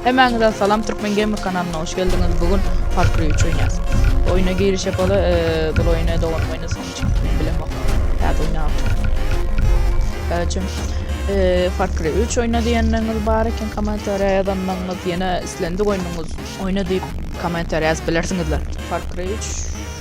Hemmäňize salam Türkmen Gamer kanalyna hoş geldiňiz bu gün Far üç oýnýas. Oýna giriş ýapaly bu oýny doganym oýnasyn üçin men bilemok. Täze oýnapdyr. Öçüm Far Cry 3 oýna diýenleriniz bar eken kommentariýa ýazanlarňyz ýene islendik oýnuňyz oýna diýip kommentariýa ýazyp bilersiňizler. Far Cry 3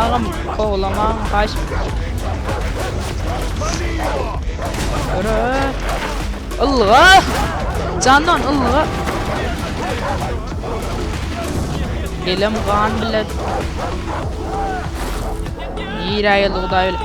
Agam kowlamaň haýş. Öre. Ylga. Jandan ylga. Elim gan bilet. Ýere ýyldy Hudaý bilen.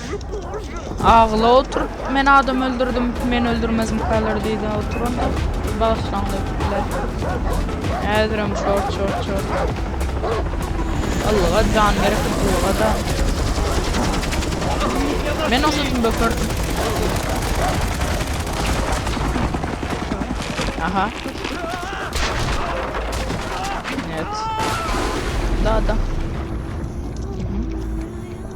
Agyla oturyp men adam öldürdüm men öldürmezmikalar diýdi oturanda bagyşlaň diýipdiler. Häzirem şort şort şort. Ilga can gerek ilga da. Men o saçym bökürdüm. Aha. Evet. Da da.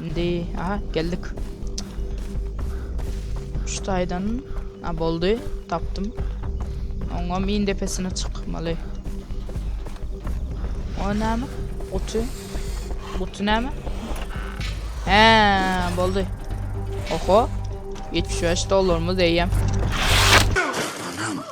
Indi aha geldik. Şu taydan ha boldy tapdym. Oňam in depesine çykmaly. O näme? Gutu. Gutu näme? He, boldy. Oho. 75 dollarymyz eýem. Anam.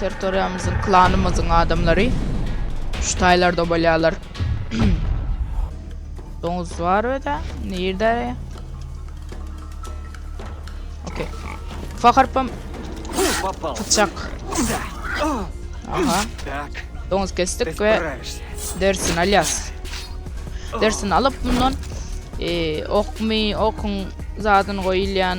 Territoriýamyzyň, klanymyzyň adamlary şu taýlarda bolýarlar. Doňuz bar öde. Nirde? Okey. Ufak harpam. Tutacak. Aha. Doňuz kestik ve dersin alyas. Dersin alıp bundan e, ok mi okun zadyn koyulyan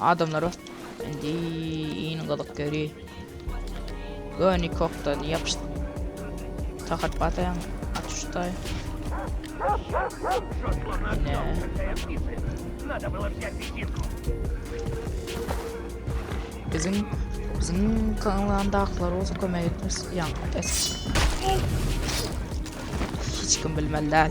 Adamlara indi iň gyzyk ýeri göni kokdan ýapyş takat bataýaň atuşdaý ne biziň biziň kanlandaklar bolsa kömek etmez ýaň es hiç kim bilmeli däl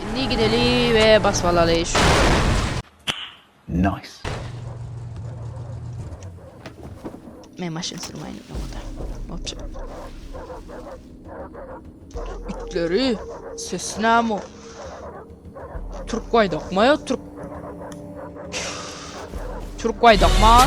Indi gideli we basyp alaly şu. Nice. Men maşyn sürmeyin yolda. Otur. İtleri. Sesine ama. Türk vay dokma ya Türk. Türk vay dokma.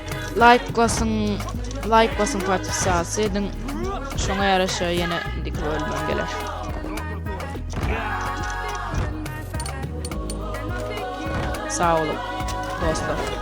Like basyn, like basyn podpisasy ediň. Şoňa ýaraşa ýene indiki bölümden geler. Sag boluň dostlar.